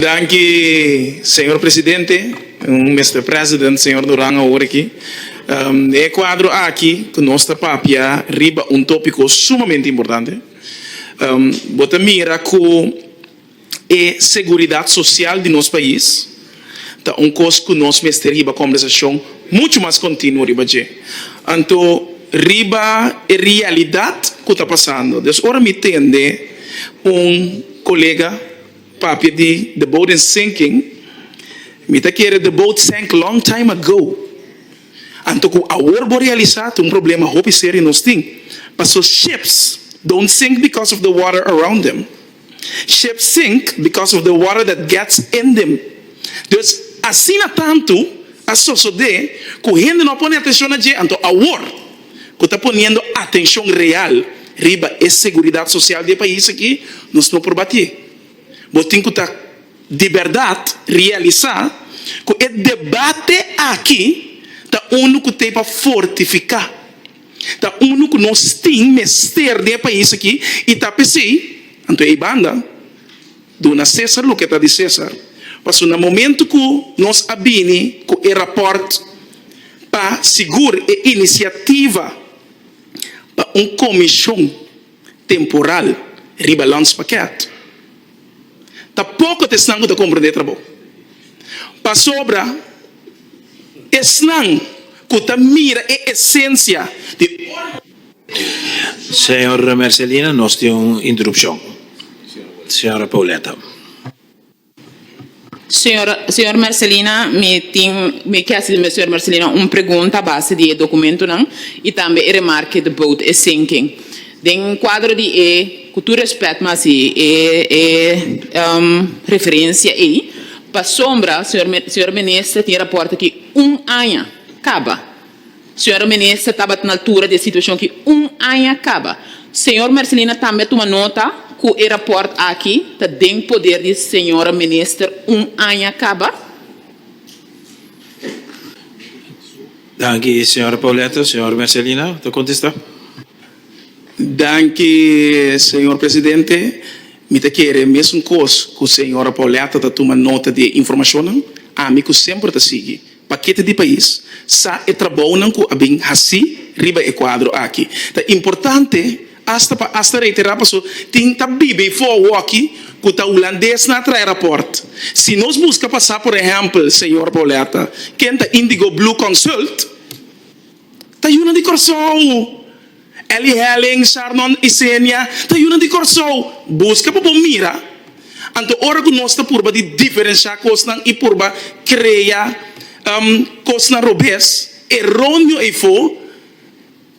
Danki señor presidente, Mister President, señor Duran awor aki. Den e cuadro aki cu nos ta papia riba un topico sumamente importante. Bo ta mira cu e seguridad social di nos pais ta un cos cu nos mester hiba conversacion mucho mas continuo riba dje, anto riba e realidad cu ta pasando. Dios ora mi tende un colega. Papia di the boat in sinking mi ta kere the boat sank long time ago anto ku awor bo realisa ta un problema hopi serio nos tin paso ships don't sink because of the water around them ships sink because of the water that gets in them dus asina tantu a sosode ku hende no a pone atenshon na dje anto awor cu ta poniendo atencion real riba e seguridad social di e pais aki, nos no por bati. Bo tin cu ta di berdad realisa cu e debate aki ta unu cu t'e pa fortifica, ta unu cu nos tin mester den e pais aki y ta p'esey, anto ei banda, Duna César loke ta di César, paso na momento cu nos a bini cu e raport pa sigur e iniciativa pa un comision temporal riba landspakket ta poco ta esnan cu ta comprende e trabou, pasobra esnan cu ta mira e esencia di. Señor Mercelina nos tin un interupcion. Señora Pauletta. Señor señor Mercelina mi tin mi ke haci di señor Mercelina un pregunta base di e documentonan y tambe e remarke the boat is sinking. Den cuadro di e cu tur respect mi haci e e referencia ey pasobra señor señor Minister tin rapporta ki un aña caba. Señora Minister tabat na altura di e situacion aki un aña caba. Señor Mercelina tambe a tuma nota cu e rapport aki ta den poder di Señora Minister un aña caba. Danki Señora Paulette. Señor Mercelina ta contesta. Danki Señor Presidente. Mi ta kere e mesun cos cu Señora Paulette ta tuma nota di e informacionnan, ami cu semper ta sigui. Pakete di pais sa e trabounan ku a bin hasi riba e kuadro aki. Ta importante asta pa asta reiterá paso tin ta bibi fogo aki ku ta hulandes nan a trae rapòrt. Si nos buska pasá por ehèmpel señor Boletta, ken ta Indigo Blue Consult, ta yunan di Kòrsou. Elly Helling, Sharnon i Senia ta yunan di Kòrsou. Buska pa bo mira. Anto ora ku nos ta purba di diferenshá kosnan i purba krea kosnan robes, e roño eifo,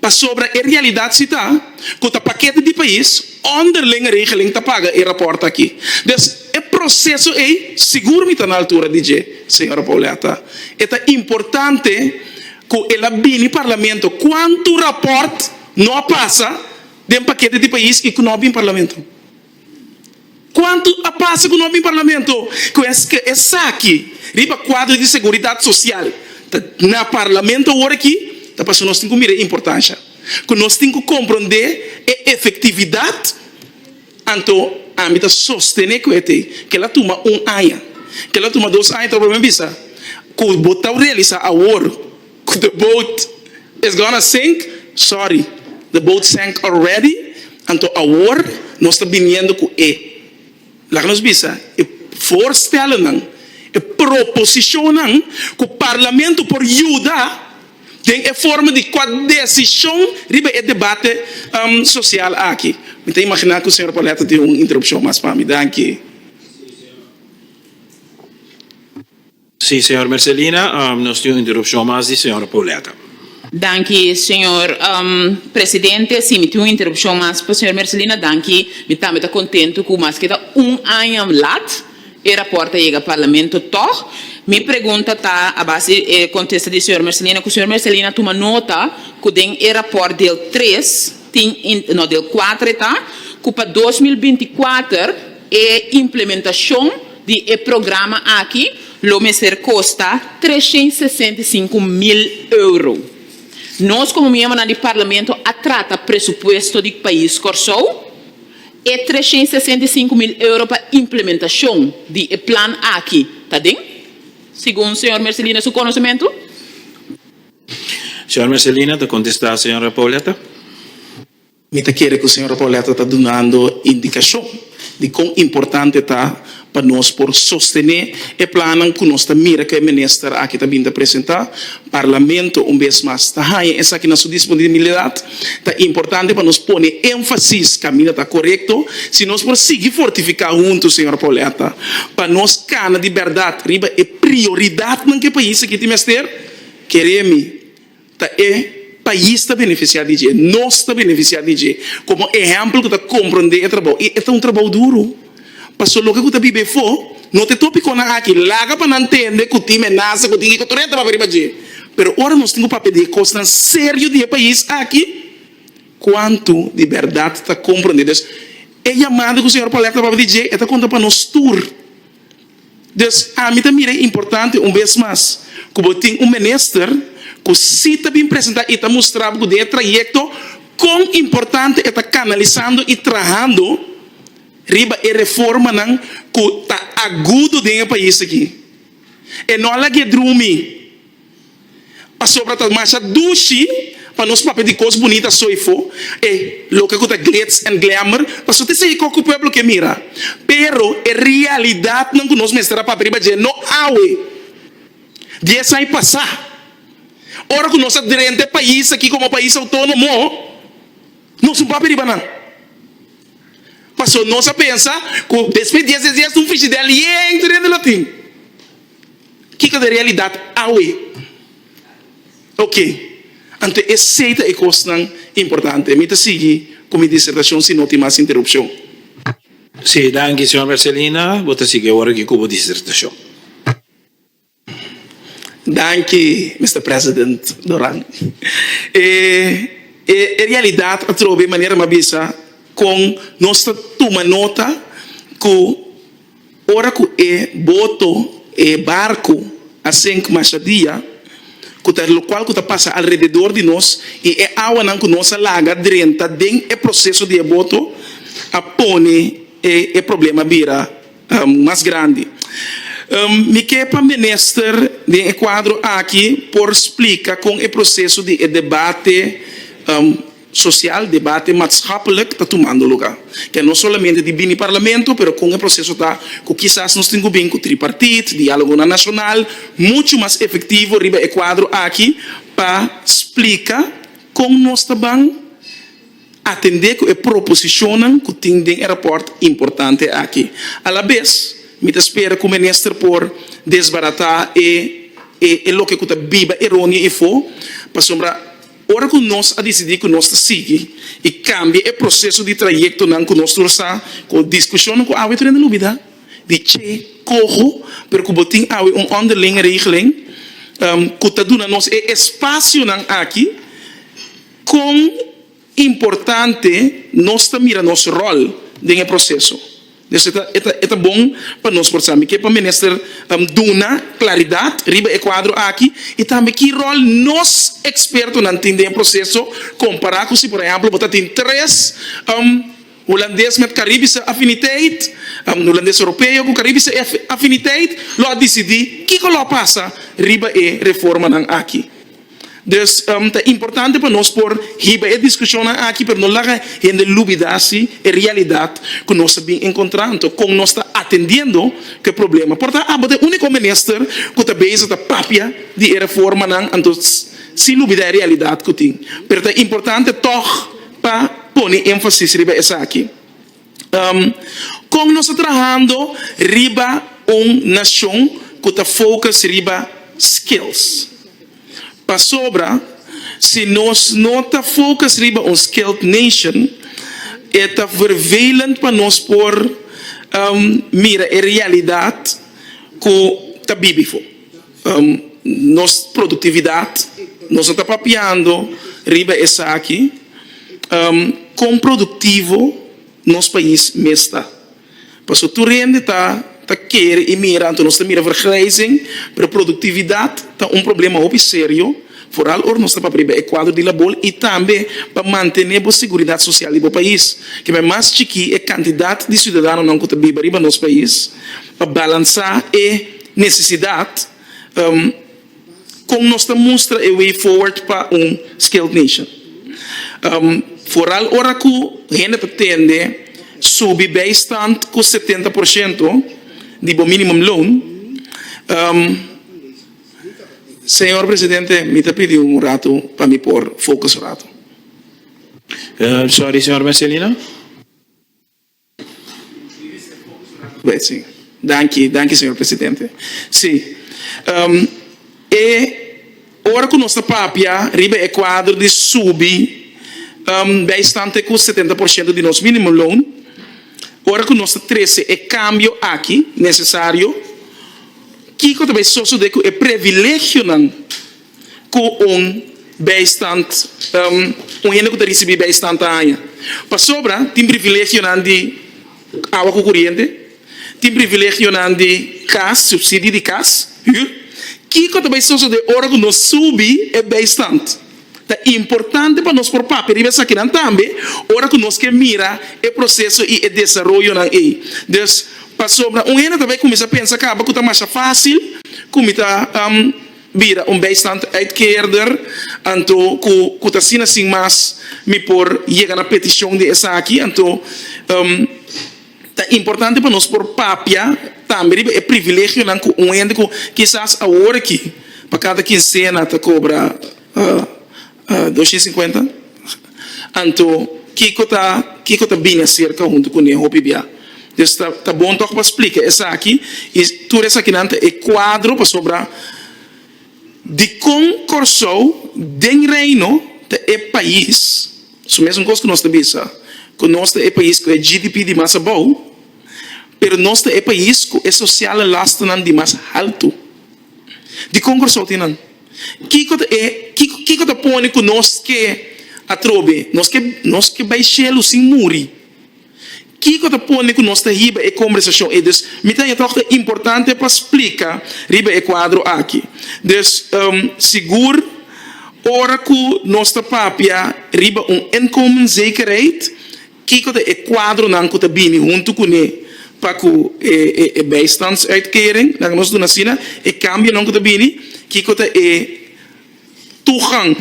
pasobra e realidat si ta ku ta pakete di pais, ònderling regeling ta paga e rapòrt aki. Dus e proseso ei sigur mi ta na altura di dje, señora Pauletta. E ta importante. cu el a bini Parlamento, cuantu rapport no a pasa den paquete di pais y cu no a bin Parlamento? Cuantu a pasa cu no a bin Parlamento? Cu esque esaki riba cuadro di seguridad social ta na Parlamento aworaki ta pasobra nos tin cu mira e importancia cu nos tin cu compronde e efectividad Anto ami ta sostené ku e t'ei kel a tuma un aña, kel a tuma dos aña tawbe mi bisa ku bo ta realisá awor ku the boat is gonna sink, sorry the boat sank already anto awor nos ta biniendo ku e laga nos bisa e voorstellennan, e proposishonnan ku parlamento por yuda. Den e forma di kua desishon riba e debate sosial aki. Mi ta imaginá ku señor Paulette tin un interupshon mas pa mi. Danki. Si, señor Mercelina, nos tin un interupshon mas di señor Paulette. Danki, señor presidente. Si, mi tin un interupshon mas pa señor Mercelina. Danki. Mi tambe ta kontentu ku maske ta un aña lat, E raport a yega Parlamento tog. Mi pregunta ta a base e contesta di señor Mercelina cu señor Mercelina a tuma nota cu den e raport del tres tin no del cuatro e ta cu pa dos mil binti kuater e implementacion di e programa aki lo mester costa trescientos sesenta y cinco mil euro. Nos como miembronan di Parlamento a trata presupuesto di pais Corsou? E treshén i sesenta i sinku mil euro pa implementashon di e plan aki ta den, segun señor Mercelina su konosementu? Señor Mercelina ta kontestá señor Repolleta. Mi ta kere ku señor Repolleta ta dunando indikashon di kon importante ta. pa nos por sostené e plannan ku nos ta mira ku e minister aki ta bin ta presentá. Parlamento un bes mas ta haña esaki na su disponibilidat. Ta importante pa nos pone énfasis kaminda ta korekto si nos por sigui fortifiká huntu, señor Pauletta, pa nos kana di bèrdat riba e prioridatnan ku e pais aki tin mester. Keré mi, Ta e pais ta beneficia di dje, nos ta beneficia di dje como ehempel cu ta comprende e trabou y e ta un trabou duro. Paso loke cu ta bibe efo no ta e topiconan aki laga pa nan tende cu tin menaza, cu tin kiko tur e trababa riba dje. Pero ora nos tin cu papia di e cosnan serio di e pais aki, cuanto di berdad ta comprende? Entonces e yamada cu Señor Paulette a papia di dje e ta conta pa nos tur. Dus ami ta mira e importante un bes mas ku bo tin un minister ku si ta bin presentá i ta mustra bo ku den e trayekto kon importante e ta kanalisando i trahando riba e reformanan ku ta agudo den e pais aki. E no a lag'é drumi. Pasobra ta masha dushi pa nos papia di kos bunita asoifo, e loke ku ta glitz en glamour ta su te seiko ku pueblo ke mira. Pero e realidatnan ku nos mester a papia riba dje no awe, dies aña pasá, ora ku nos a drenta e pais aki komo pais outónomo, nos no papia riba nan. Paso nos a pensa ku despues dies dies dies un frishidel yente den di lotin. Kiko ta e realidad awe? Oke, anto esei ta e kosnan importante. Mi ta sigui ku mi disertashon si no tin mas interupshon. Sí, danki señor Mercelina. Bo ta sigui awor aki ku bo disertashon. Danki, Mister President Doran. E e realidad atrobe manera mi a bisa kon nos ta tuma nota ku. Ora ku e boto, e barku, a sink masha dia, ku ta lokual ku ta pasa alrededor di nos, i e awanan ku nos a laga drenta den e proseso di e boto, a pone e problema bira mas grandi. Mi ke pa minister den e kuadro aki por splika kon e proseso di e debate. Sosial, debate matschappelijk ta tumando lugá. Ke no solamente di bini parlamento, pero kon e proseso ta ku kisas nos tin ku bin ku tripartit, diálogonan nashonal muchu mas efektivo riba e kuadro aki pa splika kon nos ta ban atendé ku e proposishonnan ku tin den e rapòrt importante aki. Alabes mi ta spera ku minister por desbaratá e e loke ku ta biba eronia ifó pasobra. Ora ku nos a disidí ku nos ta sigui i kambia e proseso di trayektonan ku nos tur sa ku diskushonnan ku awe tur hende lo olbidá, di che koho pero ku bo tin awe un onderling regeling ku ta duna nos e espasionan aki, kon importante nos ta mira nos ròl den e proseso? Destid e ta bon pa nos por sabi ke pa mester duna klaridat riba e kuadro aki i tambe ki ròl nos ekspertonan tin den e proseso, kompará ku si por ehèmpel bo ta tin tres hulandes met karibische affiniteit, un hulandes europeo ku karibische affiniteit, lo a disidí kiko lo a pasa riba e reformanan aki. Dus ta importante pa nos por hiba e diskushonnan aki, pero no laga hende lubida si e realidat ku nos a bin enkontrá, anto kon nos ta atendiendo ku e problema. Por ta abo ta e úniko minister ku ta bezig ta papia di e reformanan, anto sin lubida e realidat ku tin. Pero ta importante tòg pa pone énfasis riba esaki. Kon nos ta trahando riba un nashon ku ta fokus riba skills? Pasobra si nos no ta fokus riba un skilled nation e ta vervelend pa nos por mira e realidat ku ta bibi. Nos produktividat, nos no ta papiando riba esaki, kon produktivo nos pais mes ta? Pasobra tur hende ta kere i mira, anto nos ta mira vergrijzing, pero produktividat ta un problema hopi serio, foral ora nos ta papia riba e kuadro di labor i tambe pa mantene bo seguridat sosial di bo pais. Ke bai mas chikí e kantidat di siudadanonan ku ta biba riba nos pais pa balansá e. Necesidad, Con nos ta mustra e way forward pa un skilled nation? Vooral ora cu hende ta tende subi bijstand cu setenta por ciento di bo minimum loan. Señor Presidente, mi ta pidi un rato pa mi por focus un rato. Sorry, señor Mercelino. Danki, danki señor presidente. Si, e ora ku nos ta papia riba e kuadro di subi beistante ku setenta por shento di nos minimum loan, ora ku nos ta trese e kambio aki nesesario, kiko ta bai sosode ku e privilegionan? ku un bijstand, un hende ku ta risibí bijstand ta haña. Pasobra tin privilegionan di awa ku kuriente, tin privilegionan di kas, supsidio di kas, hür. Kiko ta bai sosodé ora ku nos subi e bijstand? Ta importante pa nos por papia riba esakinan tambe ora ku nos ke mira e proseso i e desaroyonan ei. Dus, pasobra un hende ta bai kuminsá pensa kaba ku ta masha fásil ku mi ta. bira un bijstandsuitkeerder, anto ku ku ta asina sin mas mi por yega na petishon di esaki. Anto ta importante pa nos por papia tambe riba e privilegionan ku un hende ku kisas awor aki pa kada kinsena ta kobra. Dos i sinkuenta. Anto kiko ta kiko ta bini aserka huntu ku ne hopi bia? Des ta ta bon tok pa splika esaki i tur esakinan ta e kuadro pasobra dikon Kòrsou den Reino ta e pais su mesun kos ku nos ta bisa ku nos ta e pais ku e GDP di mas abou pero nos ta e pais ku e sosial lastanan di mas haltu. di kon Kòrsou tin nan. Kiko ta e kiko ta pone ku nos ke atrobe nos ke nos ke bai shelu sin muri? Kiko ta pone ku nos ta hiba e kombersashon ei? Dus mi ta haña tòg ta importante pa splika riba e kuadro aki. Dus sigur ora ku nos ta papia riba un inkomenzekerheid, Kiko ta e kuadronan ku ta bini huntu kuné pa ku e bijstandsuitkering? Laga nos duna asina e kambionan ku ta bini. Kiko ta e tugang,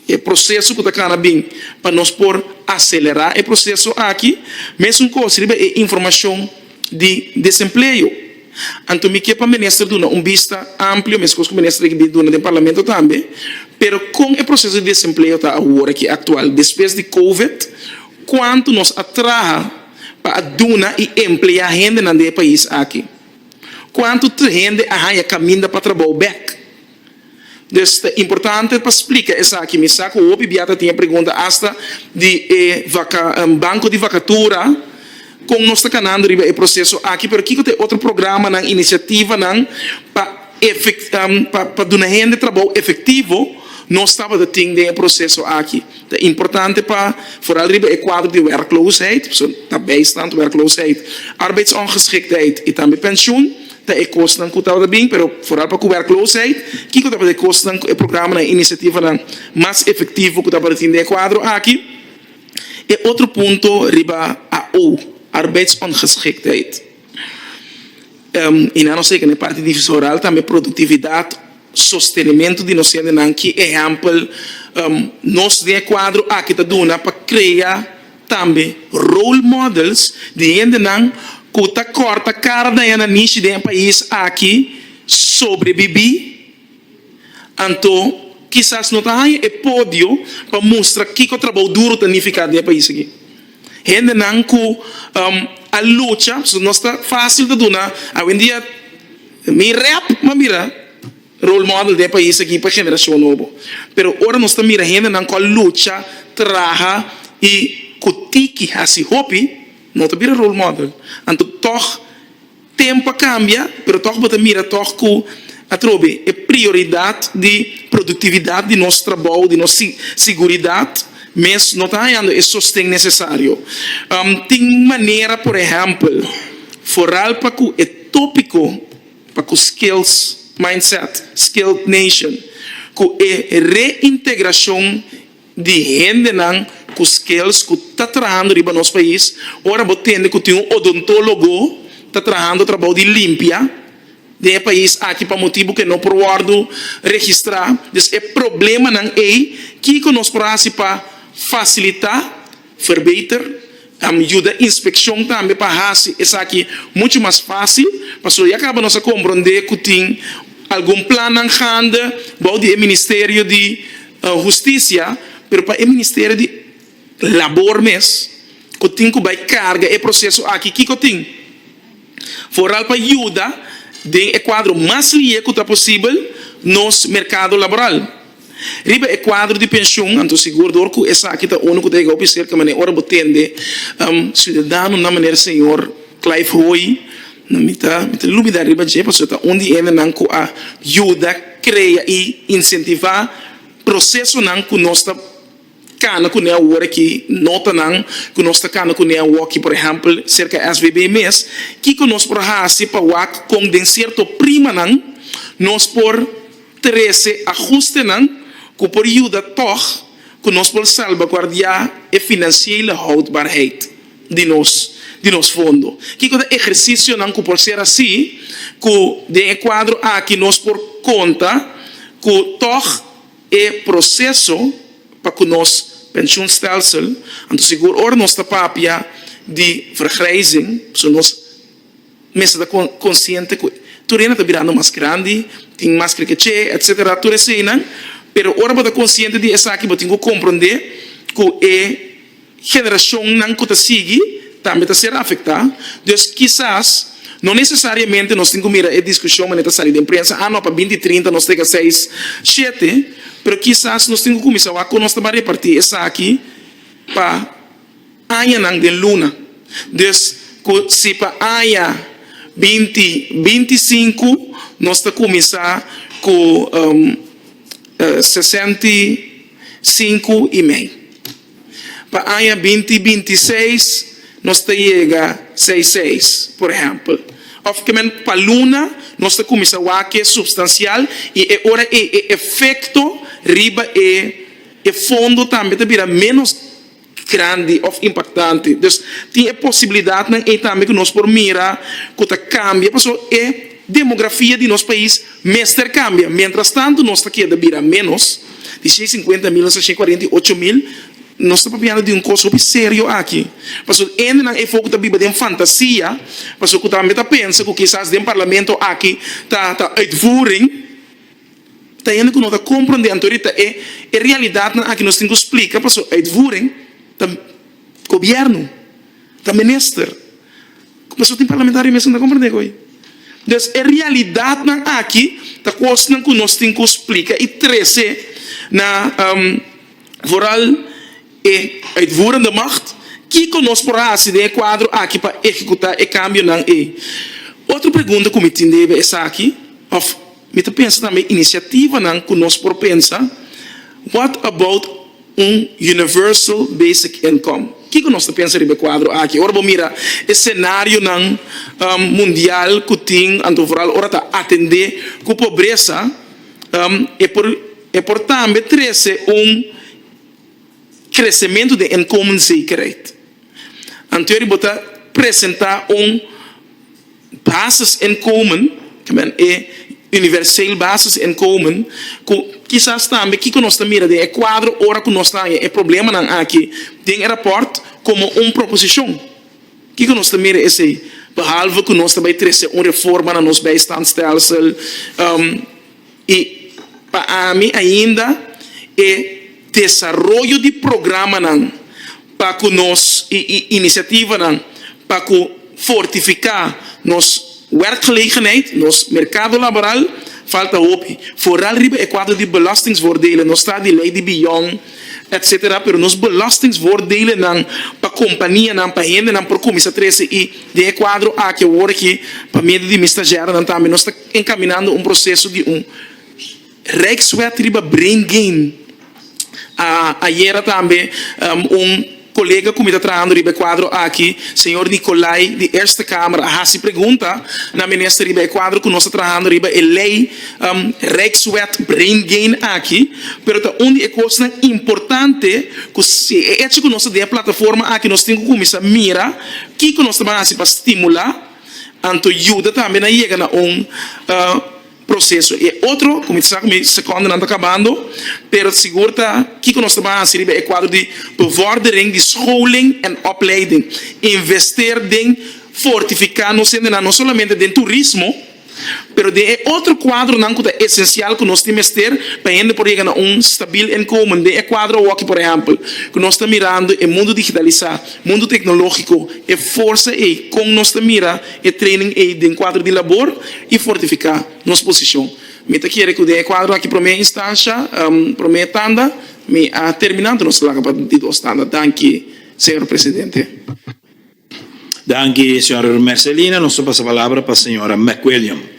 e proseso ku ta kana bin pa nos por aselerá e proseso aki? Mesun kos riba e informashon. di desempleo. Anto mi ke pa minister duna un bista amplio, meskos ku minister aki bin duna den parlamento tambe, pero kon e proseso di desempleo ta awor aki aktual despues di covid, kuantu nos a traha pa a duna i empleá hendenan den e pais aki, kuantu hende a haña kaminda pa trabou bèk. Des ta importante pa splica esaki. Mi sa cu hopi bia ta tin e pregunta hasta di e banco di vacatura con nos ta canando riba e proceso aki. Pero kico ta e otro programanan, iniciativanan pa pa duna hende trabou efectivo nos tabata tin den e proceso aki? Ta importante pa vooral riba e cuadro di werkloosheid, ta bijstand, werkloosheid, arbeidsongeschiktheid y tambe pensioen. Ta e kosnan ku tabata bin, pero foral pa kuberkloosheid, kiko tabata e kosnan ku e programanan i inisiativanan mas efektivo ku tabata tin den e kuadro aki? E otro punto riba AO, arbeidsongeschiktheid, i nan nos teken e parti divisoral tambe produktividat, sostenimentu di nos hendenan, ki ehèmpel nos den e kuadro aki ta duna pa krea? Tambe role models di hendenan ku ta kòrta kara daña na nishi den e pais aki sobrebibí. Anto kisas no ta haña e podio pa mustra kiko trabou duru ta nifiká den e pais aki. Hendenan ku a lucha nos ta fásil ta duna awendia mi rèp mambira. Role model den e pais aki pa generacion nobo. Pero ora nos ta mira hendenan cu a lucha, traha y cu tiki haci hopi, no ta bira role model. Anto tog tempo a cambia, pero tog bo ta mira tog cu atrobe e prioridad di productividad di nos trabou, di nos siguridad mes no ta hayando e sosten necesario. Tin manera, por ehempel, foral pa cu e topico. pa ku skilled mindset, skilled nation, ku e reintegrashon di hendenan ku skills ku ta trahando riba nos pais, ora bo tende ku tin un odontólogo ta trahando trabou di limpia den e pais aki pa motibu ku e no por wòrdu registrá. Dus e problemanan ei, kiko nos por hasi pa fasilitá? Verbeter ta yuda inspekshon tambe pa hasi esaki muchu mas fásil. Pasobra ya kaba nos a komprondé ku tin algun plannan gande bou di e Ministerio di Hustisia, pero pa e Ministerio di Labor mes ku tin ku bai karga e proseso aki kiko tin vooral pa yuda den e kuadro mas lié ku ta posibel nos merkado laboral. Riba e kuadro di penshun, anto sigur dor ku esaki ta unu ku ta yega oficier ke manera ora bo tende siudadano nan manera señor Clive Hoy, mi ta lubida riba dje pasobra ta un di hendenan ku a yuda, krea i insentiva prosesonan ku nos ta. kana kuné awor aki nota nan ku nos ta kana kuné awo aki por ehempel serka SBB mes kiko nos por hasi pa wak kon den sierto prima nan nos por trese ahuste nan ku por yuda tog ku nos por salbaguardia e finansiele houdbaarheid di nos di nos fondo kiko ta ehersisio nan ku por ser asi ku den e kuadro aki nos por konta ku tog. E proceso pa cu nos pensioenstelsel, anto sigur ora nos ta papia di vergrijzing, so nos mester ta consciente cu tur hende ta birando mas grandi, tin mas creer keche, etc. Tur eseinan, pero ora bo ta consciente di esaki bo tin cu comprende cu e. Generacionnan cu ta sigui tambe ta ser afecta, dus kisas no necesariamente nos tin cu mira e discusion mane ta sali den prensa, ah no pa binti trinta nos ta yega seis, shete, pero kisas nos tin cu cuminsa wak con nos ta ban reparti esaki pa añanan den luna. Dus cu si pa aña binti binti sinku nos ta cuminsa cu sesenta y sinku y mei. Pa aña binti binti seis nos ta yega seis seis, por ehèmpel. Òf kue men pa luna nos ta kuminsá wak e supstansial i e ora ei e efekto riba e e fondo tambe ta bira ménos grandi òf impaktante. Dus tin e posibilidatnan ei tambe ku nos por mira ku ta kambia pasobra e. Demografia di nos pais mester kambia. Mientras tanto nos ta keda bira menos di shei sinkuenta mil nos ta shei kuarenta i ocho mil. Nos ta papiando di un kos hopi serio aki. Pasobra hendenan efo ku ta biba den fantasia, pasobra ku tambe ta pensa ku kisas den parlamento aki ta ta uitvoering, ta hende ku no ta komprondé anto ahorita e e realidatnan aki nos tin ku splika, pasobra uitvoering ta. Gobierno ta menester cu pasobra tin parlamentario mes cu no ta comprende cu entonces e realidadnan aki ta cosnan cu nos tin cu splica y trece na foral e uitvoerende macht kico nos por haci den e cuadro aki pa ehecuta e cambionan ey. Otro pregunta cu mi tin debe esaki of mi ta pensa tambe iniciativanan cu nos por pensa what about. Un Universal Basic Income. Kiko nos ta pensa riba e kuadro aki? Ora bo mira e senarionan mundial ku tin, anto vooral ora ta atendé ku pobresa, e por e por tambe trese un kresementu den inkomenzekerheid. Anto bo ta presentá un. Basisinkomen, ta men e universeel basisinkomen, ku kisas tambe kiko nos ta mira den e kuadro ora ku nos ta haña e problemanan aki den e rapòrt komo un proposishon. Kiko nos ta mira esei behalve ku nos ta bai trese un reforma na nos bijstandstelsel? I pa ami ainda e desaroyo di programanan pa ku nos i i inisiativanan pa ku fortifiká nos werkgelegenheid, nos merkado laboral, falta hopi. Foral riba e kuadro di belastingsvoordelen, nos ta di lei di beyond, etsetera, pero nos belastingsvoordelenan pa kompanianan, pa hendenan por kuminsá trese i den e kuadro aki awor aki pa medio di mi stagiaronan tambe nos ta. enkaminando un proseso di un Rijkswet riba Brain Gain. Ayera tambe un kolega ku mi ta trahando riba e kuadro aki, señor Nicolay di Eerste Kamer, a hasi pregunta na minister riba e kuadro ku nos ta trahando riba e lei Rijkswet Brain Gain aki, pero ta un di e kosnan importante ku si e echi ku nos ta den e plataforma aki nos tin ku kuminsá mira kiko nos ta ban hasi pa stimulá. Anto yuda tambe nan yega na un proseso. E otro, ku mi ta sa ku mi sekondenan ta kabando, pero sigur ta kiko nos ta ban hasi riba e kuadro di bevordering di scholing en opleiding. Invester den fortifiká nos hendenan no solamente den turismo, Pero den e otro kuadronan ku ta esensial ku nos tin mester pa hende por yega na un stabil inkomen, den e kuadro awoki por ehèmpel ku nos ta mirando e mundu digitalisá, mundu teknológiko, e forsa ei, kon nos ta mira e training ei den kuadro di labor i fortifiká nos posishon? Mi ta kere ku den e kuadro aki promé instansha, promé tanda, mi a terminá, anto nos laga pa di dos tanda. Danki, señor presidente. Danki, Sra. Mercelina. Nos ta pasa palabra pa Sra. McWilliam.